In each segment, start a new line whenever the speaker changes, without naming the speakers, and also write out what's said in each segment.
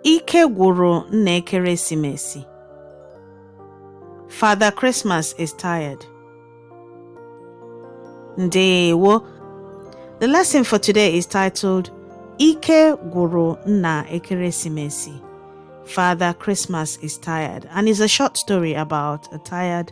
Ike gwụrụ nna ekeresimesi. Father Christmas is tired. Ndewo. The lesson for today is titled Ike gwụrụ nna ekeresimesi. Father Christmas is tired and is a short story about a tired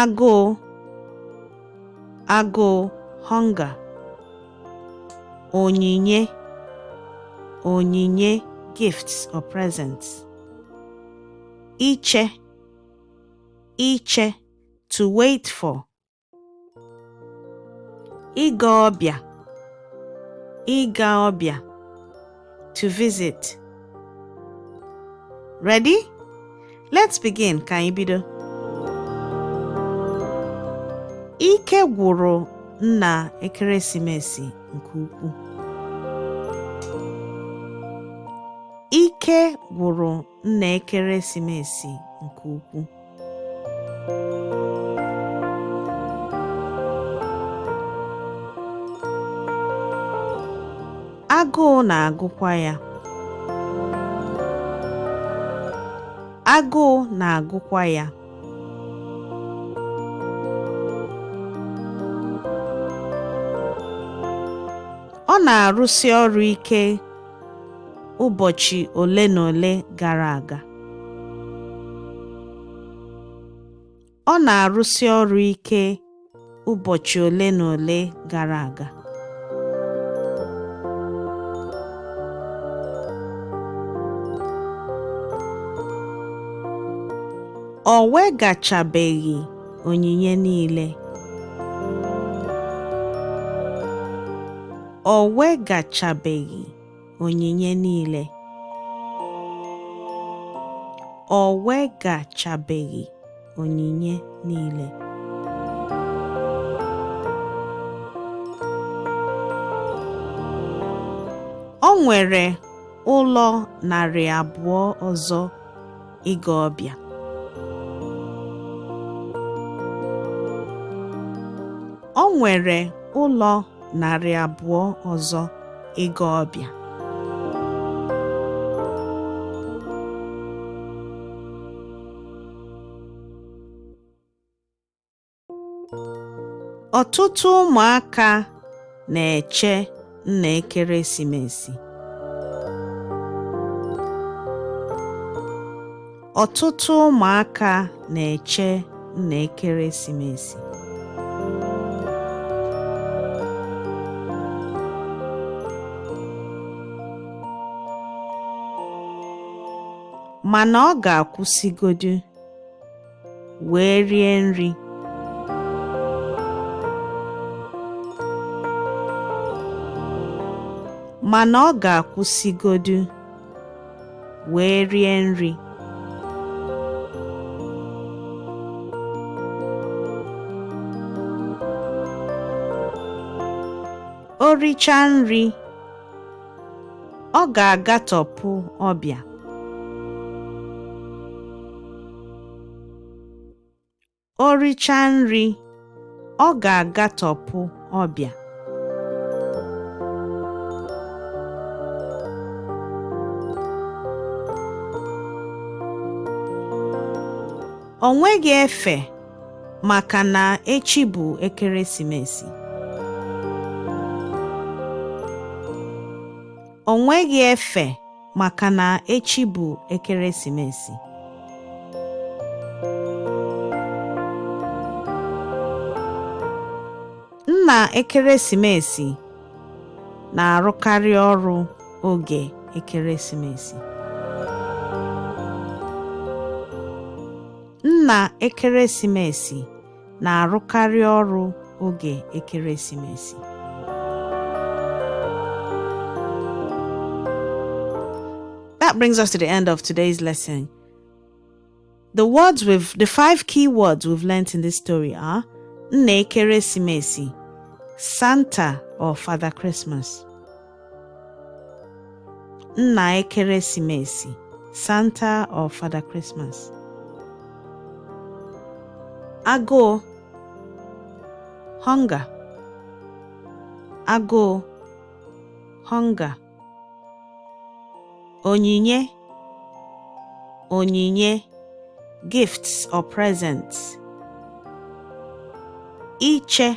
agụụ agụụ hunger onyinye onyinye gifts or presents iche iche to wait for ịga ọbịa ịga ọbịa to visit ready let's begin ka anyị bido ike gwụrụ nna ekeresimesi nke ukwuu ike gwụrụ nna ekeresimesi nke ukwuu. Agụụ na-agụkwa ya. Agụụ na-agụkwa ya. Ọ na-arụsi ọrụ ike ụbọchị ole na ole gara aga. Ọ na-arụsi ọrụ ike ụbọchị ole na ole gara aga. O wegachabeghị onyinye niile. o wegachabeghị onyinye niile o wegachabeghị onyinye niile o nwere ụlọ narị abụọ ọzọ ịga ọbịa o nwere ụlọ narị abụọ ọzọ ịga ọbịa Ọtụtụ ụmụaka na-eche nna ekeresimesi. Ọtụtụ ụmụaka na-eche nna ekeresimesi. Mana ọ ga-akwụsịgodu. wee rie nri. Mana ọ ga-akwụsịgodu wee rie nri. O richaa nri, Ọ ga-agatọpụ ọbịa. O richaa nri, ọ ga-agatọpụ ọbịa. O nweghị efe. maka na echi bụ ekeresimesi o nweghị efe maka na echi bụ ekeresimesi nna ekeresimesi na-arụkarị ọrụ oge ekeresimesi Nna ekeresimesi na-arụkarị ọrụ oge ekeresimesi. That brings us to the end of today's lesson. The five key words we've learnt in this story are Nna Ekeresimesi, Santa or Father Christmas. Nna Ekeresimesi, Santa or Father Christmas. Agụụ, hunger. Agụụ, hunger. Onyinye, onyinye, gifts or presents. Iche